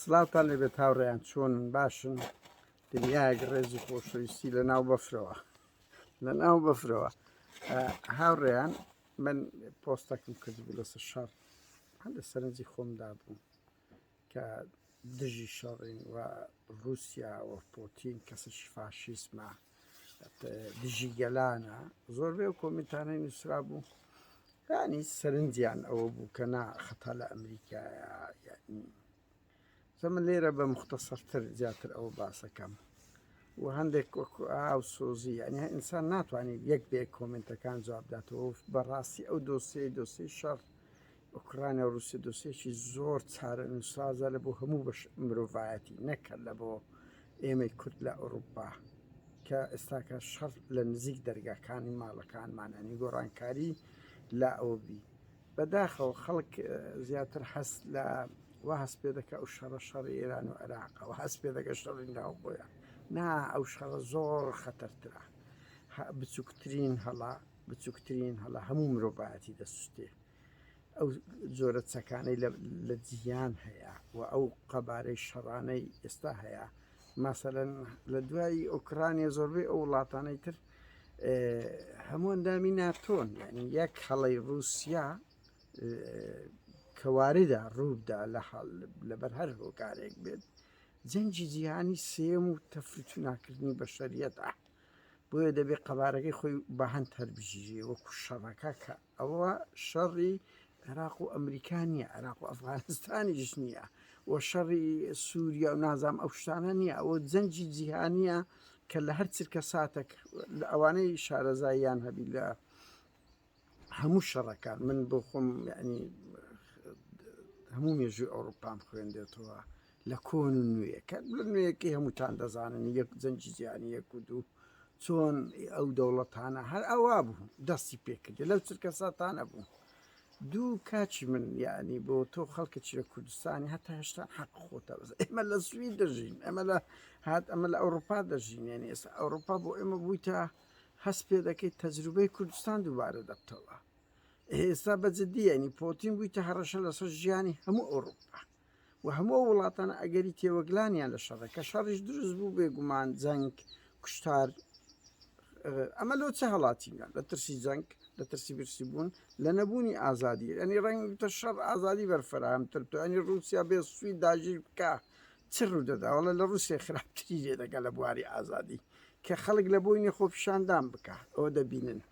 سڵاوتان لێبێت هاوڕێیان چۆنن باشن دنیایەک ڕێزی خۆشەویستی لە ناو بەفرەوە لە ناو بەفرەوە هاوڕێیان من پۆستەکەم کردبوو لەسەر شەڕ هەم لە سەرنجی خۆمدا بوو کە دژی شەڕین و رووسیا و پۆتین کەسش فاشیسمە دژی گەلانە زۆربەی و کۆمنتانەی نووسرا بوو ینی سەرنجیان ئەوە بوو کە نا خەتا لە ئەمریکایە زەمە لێرە بە مختصەرتر زیاتر ئەوە باسەکەم و هەندێک ئاو سۆزی ئەنی ئینسان ناتوانێت یەک بێ کۆمنتەکان جوابداتەوە بەڕاستی ئەو دۆسیەی دۆسی شەڕ ئۆکرانیا و ڕووسیە دۆسێکی زۆر چارەنووسسازە لە بۆ هەموو بەش مرۆڤایەتی نەک هەر لە بۆ ئێمەی کورد لە ئەوروپا کە ئێستاکە شەڕ لە نزیک دەرگاکانی ماڵەکانمانە نی گۆڕانکاری لا ئەوە بی بەداخەوە خەڵک زیاتر هەست لە وا هەست پێ دەکە ئەو شەڕە شەڕ ئێران و عێراقەوە هەست پێ دەگە شەڕی ناو بۆیان نا ئەو شەڕە زۆر خەتەرترە بچووکترین هەڵا بچووکترین هەڵا هەموو مرۆڤایەتی دەسوستێ ئەو جۆرە چەکانەی لە جیهان هەیە و ئەو قەبارەی شەڕانەی ئێستا هەیە ماسەەن لە دوایی ئۆکرانیە زۆربەی ئەو وڵاتانەی تر هەمووان دامی ناتۆن ینی یەک هەڵی رووسیا کەواریدا ڕووبدا لە حال لەبەر هەر هۆکارێک بێت جەنجی جیهانی سێم و تەفروتوناکردنی بە شەریەتە بۆیە دەبێت قەبارەکەی خۆی بەهند هەربژیری وەکو شەڕەکە کات ئەوە شەڕی عێراق و ئەمریکا نییە عێراق و ئەفغانستانیش نییە و شەڕی سووریا و نازام ئەو شتانە نییە ئەوە جەنجی جیهانیە کە لە هەر چرکە ساتێک لە ئەوانەی شارەزاییان هەبی لە هەموو شەڕەکان من بۆ خۆم ینی هەموو مێژووی ئەوروپام خوێندێتەوە لە کۆن و نوێ کە لە نوێیەکەی هەمووتان دەزانن یەک زەنجیزیانی یەک و دوو چۆن ئەو دەوڵەتانە هەر ئەوا بوو دەستی پێکردی لەو چرکە ساتانە بوو دوو کاچی من یعنی بۆ تۆ خەڵکەکی لە کوردستانی هەتا هێشتا حەق خۆتە بەس ئێمە لە سوی دەژین ئەمە لە هات ئەمە لە ئەوروپا دەژین یعنی ئێستا ئەوروپا بۆ ئێمە بوویتە هەست پێ دەکەیت تەجروبەی کوردستان دووبارە دەبتەوە ئێستا بەجددی ینی پۆتین بوویتە هەڕەشە لەسەر ژیانی هەموو ئەوروپا و هەموو ئەو وڵاتانە ئەگەری تێوەگلانیان لە شەڕە کە شەڕیش دروست بوو بێ گومان جەنگ کوشتار ئەمە لۆ چه هەڵاتینە لە ترسی جەنگ لە ترسی برسی بوون لە نەبوونی ئازادی ئەنی ڕەنگتە شەڕ ئازادی بەرفراهمتر تو ئەنی رووسیا بێ سوی داژیر بکە چ ڕوودەداوەڵە لە رووسێ خراپتری لێ دەگە لە بواری ئازادی کە خەڵک لە بۆینی خۆپیشاندان بکە ئەوە دەبینن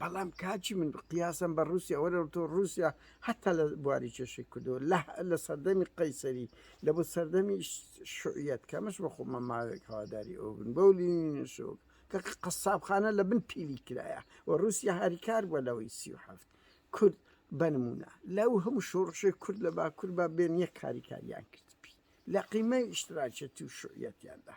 بەڵام کاکی من قیاسم بە ڕووسیا وەرەوە تۆ ڕووسیا هەتا لە بواری کێشەی کردو لە لە سەردەمی قەیسەری لە بۆ سەردەمی شعیەت کەمەش بە خۆمە ماوێک هەواداری ئەو بن بەو لینشۆک کە قەسابخانە لە بن پیلی کرایە و ڕووسیا هاریکار بووە لەوەی سی و هەفت کورد بنمونە لەو هەموو شۆڕشی کورد لە باکوور با بێن یەک کاریکاریان کرد پی لە قیمەی ئیشتراکێتی و شعیەتیاندا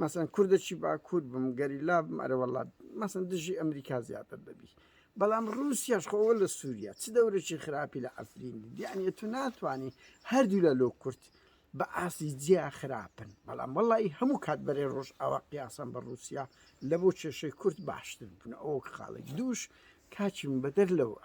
مەسەن کوردەچی باکوور بم گەریلا بم ئەرەوەڵا مەسن دژی ئەمریکا زیاتر دەبی بەڵام ڕوسیاش خۆوە لە سووریا چ دەورێکی خراپی لە ئەفرین دیانە تو ناتوانانی هەردوو لە لۆ کورت بە ئاسی جیا خراپن بەڵام وڵی هەموو کات بەرێ ڕۆژ ئاوا قیاسم بە ڕوسیا لە بۆ کێشەی کورت باشتر بوون ئەو خاڵێک دووش کاچیم بەدەر لەوە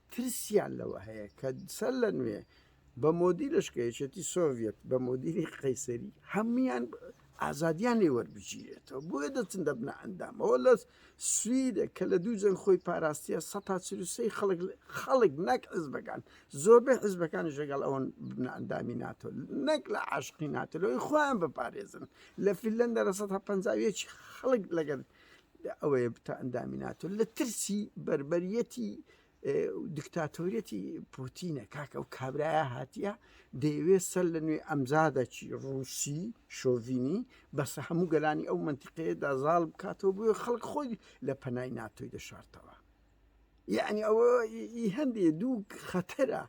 ترسیان لەوە هەیە کە سەر لە نوێ بە مۆدی لەشکە یەکێتی سۆڤەت بە مۆدیری قەیسەری هەمویان ئازادیان لێ وەربگیرێتەوە بۆیە دەچن دەبنە ئەندامەوە لە سویدە کە لە دوو جەنگ خۆی پاراستە سەتاچروسی خەڵک خەڵک نەک حزبەکان زۆربەی حزبەکانی ژەگەڵ ئەوەن ببنە ئەندامی ناتۆ نەک لە عاشقی ناتەلەوەی خۆیان بپارێزن لە فیلەن دەرە 150 خەڵک لەگەر لە ئەوەیە بتە ئەندامی ناتۆ لە ترسی بربەریەتی دکتاتۆریەتی پوتینە کاکە و کابراە هاتیە دەیەوێت سەر لە نوێ ئەمزادەکی ڕووسی شۆڤینی بەسە هەموو گەلانی ئەو منتیقەیەدا زاڵ بکاتەوە بۆ خەڵک خۆی لە پەنای ناتۆی دەشارتەوە یەعنی ئەوە ئی هەندێ دوو خەتەرە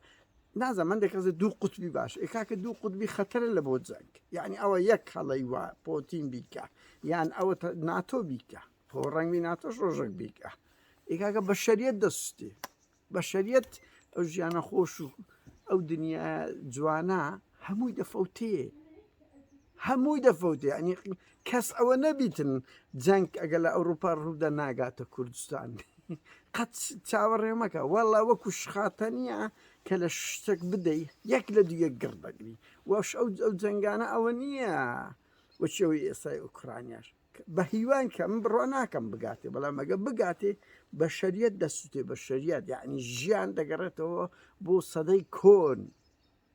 نازم من دەکەزە دوو قوتبی باش ئێکاکە دوو قوتبی خەتەرە لە بۆ جەنگ یعنی ئەوە یەک هەڵی وا پۆتین بیکە یان ئەوە ناتۆ بیکە خۆ ڕەنگی ناتۆش ڕۆژێک بیکە ئێکاکە بە شەریت دەستی بە شەریت ئەو ژیانە خۆش و ئەو دنیا جوانە هەمووی دەفەوتێ هەمووی دەفەوتێ ینی کەس ئەوە نەدیتن جەنگ ئەگە لە ئەوروپا ڕوودا ناگاتە کوردستان قەت چاوەڕێ مەکە وەڵا وەکو شخاتەنە کە لە شتێک بدەی یەک لە دوو یەک گڕ دەگری وەش ئەو ئەو جەنگانە ئەوە نییە وەچەوەی ئێستای ئۆکرانیاش بە هیوان کە من بڕۆ ناکەم بگاتێ بەڵام ئەگە بگاتێ بە شەریەت دەسووتێ بە شەریەت یعنی ژیان دەگەڕێتەوە بۆ سەدەی کۆن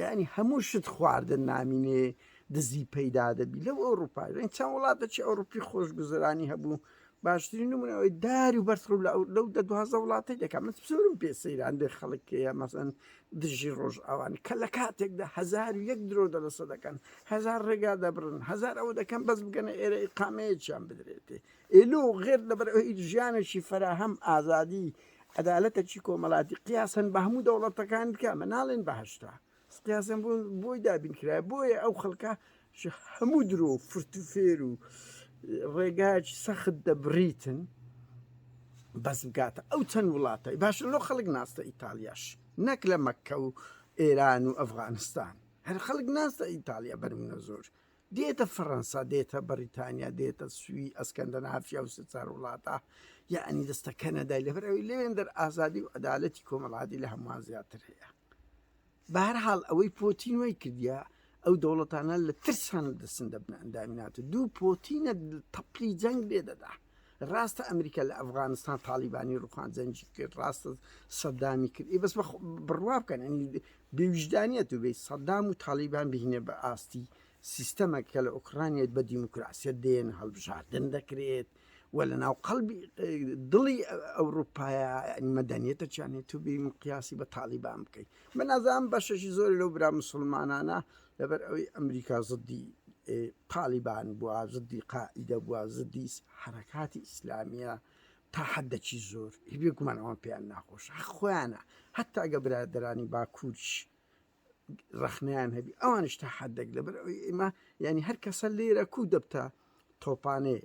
یعنی هەموو شت خواردن نامینێ دزی پەیدا دەبی لەو ئەوروپای لەن چەند وڵاتە چی ئەوروپی خۆشگوزرانی هەبوو باشترین نمونەوەی داری و بەرخ و لەو دە دوازە وڵاتی دەکەم من سورم پێ سەیران دێ خەڵکەیە مەسەن دژی ڕۆژ ئەوان کە لە کاتێکدا هزار و یەک درۆ دەلەسە دەکەن هزار ڕێگا دەبرن هزار ئەوە دەکەم بەس بگەنە ئێرە قامەیەکیان بدرێتێ ئێلو غێر لەبەر ژیانێکی فراهەم ئازادی عەدالەتە چی کۆمەڵاتی قیاسن بە هەموو دەوڵەتەکان بکە مە ناڵێن بەهشتا قیاسم بوون بۆی دابین کرای بۆیە ئەو خەڵکە هەموو درۆ فرتوفێر و ڕێگاچ سەخت دەبریتن بەس بگاتە ئەو چەند وڵاتەی باشە لۆ خەڵک ناستە ئیتالیاش نەک لە مەکە و ئێران و ئەفغانستان هەر خەڵک ناستە ئیتالیا بەرمونە زۆر دێتە فەرەنسا دێتە بەریتانیا دێتە سوی ئەسکەندە نافیا و سچار وڵاتە یعنی دەستە کەنەدای لەبەرەوەی لەوێن دەر ئازادی و عدالەتی کۆمەڵاتی لە هەمووان زیاتر هەیە بەهر حاڵ ئەوەی پۆتین وی کردە ئەو دەوڵەتانە لە ترسان دەسن دەبنە ئەندامینات و دوو پۆتینە تەپلی جەنگ لێ دەدات ڕاستە ئەمریکا لە ئەفغانستان تاڵیبانی ڕوخان جەنجی کرد ڕاستە سەدامی کرد ئی بەس بڕوا بکەن ئەنی بێویژدانیت و بێ سەدام و تاڵیبان بهینە بە ئاستی سیستەمە کە لە ئۆکرانیت بە دیموکراسیت دێن هەڵبژاردن دەکرێت و لە ناو قەڵبی دڵی ئەوروپایا مەدەنیێتە چیانێت تو بیم قیاسی بە تاڵیبان بکەیت من نازان بەشەشی زۆر لەو برا مسلمانانە لەبەر ئەوەی ئەمریکا زدی تالیبان بووە زدی قائیدە بووە زدی حرەکاتی ئیسلامیە تا حدەکی زۆر هیبێ گومان ئەوان پێیان ناخۆش خۆیانە هەتا گە برادرانی باکوورش ڕخنیان هەبی ئەوانش تا حدەک لەبەر ئەوی ئێمە ینی هەر کەسە لێرە کو دەبتە تۆپانێ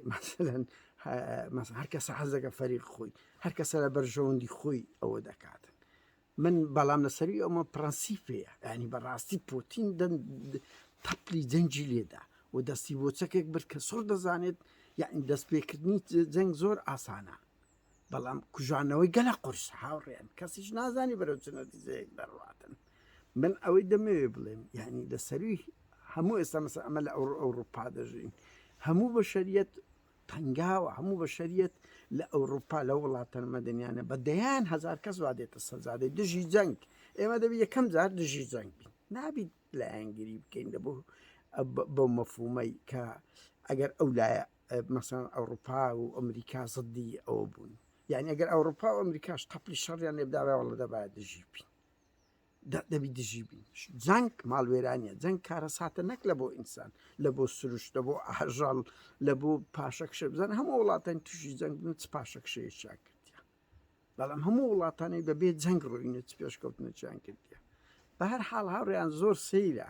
مەسەن هەر کەسە حەزەکە فەریق خۆی هەر کەسە لە بەرژەوەندی خۆی ئەوە دەکاتن من بەڵام لەسەروی ئەومە پرەنسیپەیە یعنی بەڕاستی پۆتین دەن تەپلی جەنگی لێدا و دەستی بۆ چەکێک برد کە سۆر دەزانێت یعنی دەست پێکردنی جەنگ زۆر ئاسانە بەڵام کوژانەوەی گەلە قرس هاوڕێن کەسیش نازانی بەرەو چنە دیزەیەک دەڕاتن من ئەوەی دەمەوێ بڵێم یعنی لەسەروی هەموو ئێستا مەسە ئەمە لە ئەو ئەوروپا دەژین هەموو بە شەریەت تەنگاوە هەموو بەشەریەت لە ئەوروپا لە وڵاتە مەدەنیانە بە دەیان هەزار کەس وا دێتە سەرزادە دژی جەنگ ئێمە دەبی یەکەم جار دژی جەنگ بین نابیت لایەنگیری بکەین لە بۆ بەو مەفومەی کە ئەگەر ئەو لایە مەسەن ئەوروپا و ئەمریکا زدی ئەوە بوون یعنی ئەگەر ئەوروپا و ئەمریکاش تەپلی شەڕیان لێبداوە وڵە دەبات دژی بین دەبی دژی بین جەنگ ماڵوێرانە جەنگ کارەساتە نەک لە بۆ ئینسان لە بۆ سروشتە بۆ ئاژەڵ لە بۆ پاشەکشە بزان هەموو وڵاتان تووشی جەنگ بن چ پاشەکشەیە چیان کردیان بەڵام هەموو وڵاتانی بەبێ جەنگ ڕووینە چ پێشکەوتنە چیان کردیان بە هەر حاڵ هاوڕیان زۆر سەیرە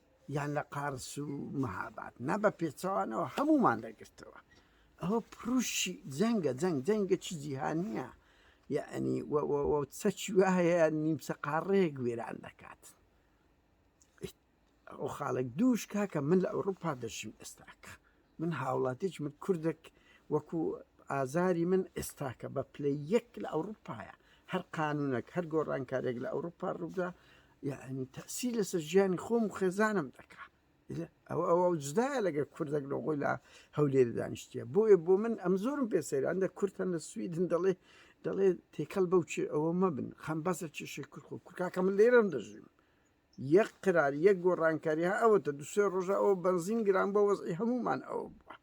یان لە قارس و مەهاباد نا بە پێچەوانەوە هەمومان دەگرتەوە ئەوە پروشی جەنگە جەنگ جەنگە چی جیهانیە یعنی چەکی وایە نیمچە قاڕەیەک وێران دەکات ئەو خاڵک دووش کاکە من لە ئەوروپا دەشیم ئێستاکە من هاوڵاتیەکی من کوردەک وەکو ئازاری من ئێستاکە بە پلەی یەک لە ئەوروپایە هەر قانونەک هەر گۆڕانکارێک لە ئەوروپا ڕوودا یعنی تەسی لەسەر ژیانی خۆم و خێزانم دەکا ئەو ئەوە جدایە لەگە کوردەک لەغۆی لە هەولێر دانیشتە بۆیە بۆ من ئەم زۆرم پێ سەیران دە کورتە لە سویدن دەڵێ دەڵێ تێکەڵ بەو چێ ئەوە مەبن خەم بەسە چێشێ کورخۆ کورکاکە من لێرەم دەژیم یەک قرار یەک گۆڕانکاری ها ئەوەتە دو سێ ڕۆژە ئەو بنزین گران بۆ وەزی هەمومان ئەوە بووە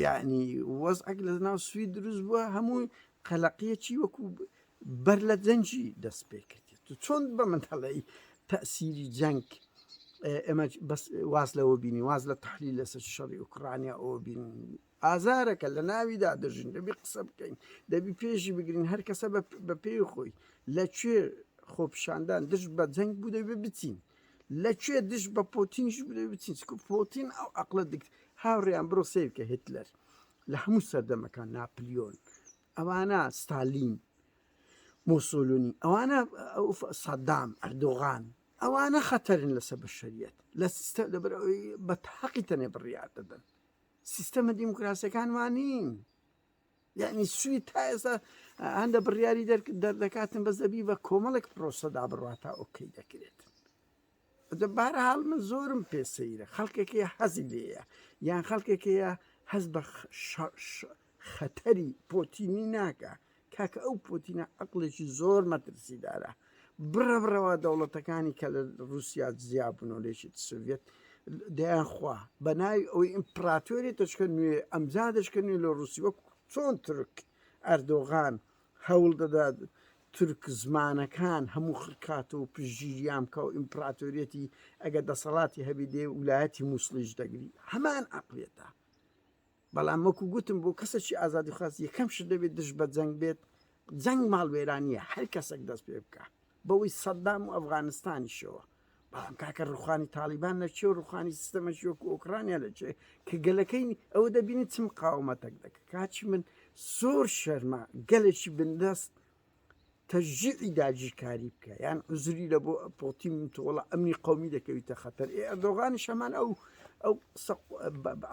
یعنی وەز ئەک لە ناو سوی دروست بووە هەموو قەلەقیە چی وەکو بەر لە جەنجی دەست پێ کردێت تو چۆن بە من هەڵی تەسیری جەنگ ئێمە بەس واز لەوە بینی واز لە تحلیل لەسەر شەڕی ئۆکرانیا ئەوە بین ئازارەکە لە ناویدا دەژین دەبی قسە بکەین دەبی پێشی بگرین هەر کەسە بە پێی خۆی لە کوێ خۆپشاندان دژ بە جەنگ بوو دەبێ بچین لە کوێ دژ بە پۆتینش بدەێ بچین چکو پۆتین ئەو عقلە دکت هاوڕیان بڕۆ سیرکە هتلەر لە هەموو سەردەمەکان ناپلیۆن ئەوانە ستالین موسولونی ئەوانە سەدام ئەردۆغان ئەوانە خەتەرن لەسەر بە شەریەت لە سیستە لەبەر بە تاقی تەنێ بڕیار دەدەن سیستەمە دیموکراسەکان وانین یعنی سوی تا ئێستا هەندە بڕیاری دەردەکاتن بەس دەبی بە کۆمەڵێک پرۆسەدا بڕاتە ئۆکەی دەکرێت دەبارە حاڵ من زۆرم پێ سەیرە خەڵکێکی حەزی لێە یان خەڵکێکەیە هەز بە خەتەری پۆتینی ناکا کاکە ئەو پۆتینە عقلێکی زۆر مەترسیدارە بڕە بڕەوە دەوڵەتەکانی کە لە رووسیا زیابن و لێشت سوڤێت دەیان خوا بە ناوی ئەوی ئیمپراتۆری دەشکە نوێ ئەمجا دەشکە نوێ لە رووسی وەک چۆن ترک ئەردۆغان هەوڵ دەدات تورک زمانەکان هەموو خکات و پژگیریان بکە و ئیمپراتۆریەتی ئەگە دەسەڵاتی هەبی دێ ولایەتی مووسڵیش دەگری هەمان عقلێتە بەڵام وەکو گوتم بۆ کەسێکی ئازادیخواز یەکەم شت دەبێت دژ بە جەنگ بێت جەنگ ماڵوێرانیە هەر کەسێک دەست پێ بکە بەوەی سەددام و ئەفغانستانیشەوە بەڵام کاکە ڕوخانی تاالبان لە چێ و ڕوخانی سیستەمەشی وەکو ئۆکرانیا لە چێ کە گەلەکەی ئەوە دەبینی چ مقاومەتەک دەکە کاچی من زۆر شەرمە گەلێکی بندەست تەژجیعی داگیرکاری بکە یان عزری لە بۆ پۆتین تۆڵە ئەمنی قومی دەکەویتە خەتەر ئێ ئەردۆغانیش هەمان ئەو ئەو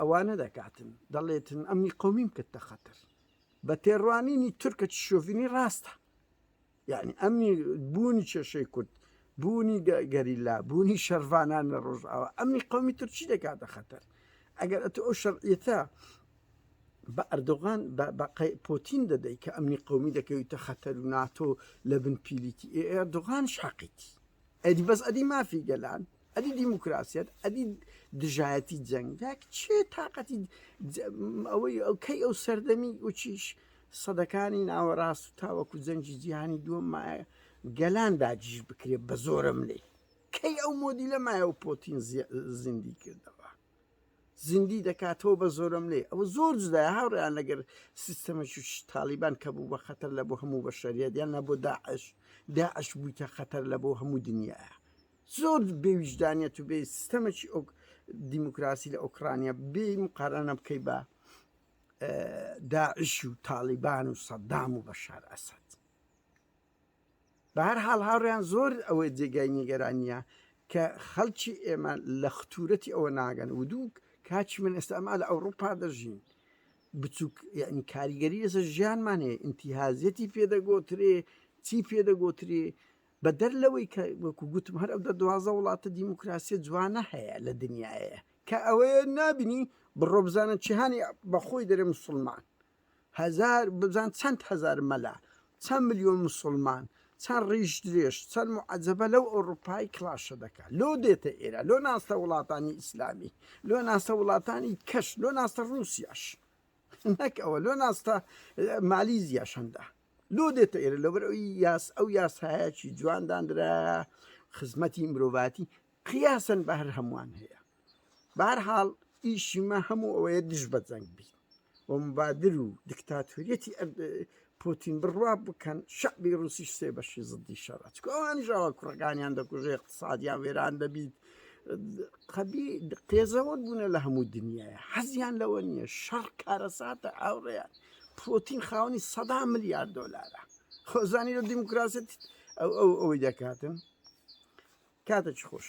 ئەوانە دەکاتن دەڵێتن ئەمنی قومیم کردتە خەتەر بە تێڕوانینی تورکە شۆڤینی ڕاستە یعنی ئەمنی بوونی کێشەی کورد بوونی گەریلا بوونی شەرڤانان لە ڕۆژاوە ئەمنی قومی تورکی دەکاتە خەتەر ئەگەر ئەتو ئەو شەرعیەتە بە ئەردۆغان بە بە پۆتین دەدەی کە ئەمنی قومی دەکەویتە خەتەر و ناتۆ لە بن پیلیتی ئێ ئەردۆغانش حەقیتی ئەدی بەس ئەدی مافی گەلان ئەدی دیموکراسیەت ئەدی دژایەتی جەنگێک چێ تااقەتی ئەوەی ئەو کەی ئەو سەردەمی وچیش سەدەکانی ناوەڕاست و تاوەکو جەنگی جیهانی دووەم مایە گەلان داگیش بکرێت بە زۆرم لێ کەی ئەو مۆدی لە مایە و پۆتین زیندی کردەوە زیندی دەکاتەوە بە زۆرەملێ ئەوە زۆر جدای هاوڕیان لەگەر سیستەمەکی تاالیبان کە بوو بە خەتەر لە بۆ هەموو بە شەریەت یان نە بۆ داعش داعش بوویتە خەتەر لە بۆ هەموو دنیاە زۆر بێویژدانیت و بێ سیستەمەکی ئەو دیموکراسی لە ئۆکرانیا بێ مقارانە بکەی بە داعش و تاالیبان و سەددام و بەشار ئەسد بەهەر حاڵ هاوڕێیان زۆر ئەوەی جێگای نیگەرانیە کە خەڵکی ئێمە لە ختورەتی ئەوە ناگەن و دوو کاچی من ئێستا ئەما لە ئەوروپا دەژین بچووک یعنی کاریگەری لەسە ژیانمان هەیە ئینتیهازیەتی پێدەگۆترێ چی پێدەگۆترێ بە دەر لەوەی کە وەکو گوتم هەر ئەو دە دوازە وڵاتە دیموکراسی جوانە هەیە لە دنیاە کە ئەوەیە نابینی بڕۆبزانە چیهانی بەخۆی دەرێ مسلمان هەزار بزان چەند هەزار مەلا چەند ملیۆن موسڵمان چەند ڕیش درێژ چەند معەجەبە لەو ئەوروپای کڵاشە دەکات لۆ دێتە ئێرە لۆ ناستە وڵاتانی ئیسلامی لۆ ناستە وڵاتانی کەش لۆ ناستە ڕووسیاش نەک ئەوە لۆ ناستە مالیزیا شەندە لۆ دێتە ئێرە لەبەر ئەوی یاس ئەو یاسایەکی جوانداندرا خزمەتی مرۆڤاتی قیاسەن بە هەر هەمووان هەیە بارحاڵ ئیشی مە هەموو ئەوەیە دژ بە جەنگ بی و مبادر و دکتاتوریەتی پوتین بڕوا بکەن شعبی رووسیش سێ بەشی زدی شەڕە چکۆوانیشەوە کوڕەکانیان دەکوژێ اقتصادیان وێران دەبیت قەبی قێزەوە بوونە لە هەموو دنیاە حەزیان لەوە نییە شەڕ کارەساتە ئاوڕێیان پوتین خاونی سەدا ملیار دلارە خۆزانی لە دیموکراست ئەو ئەو ئەوەی دەکاتن کاتە چ خۆش.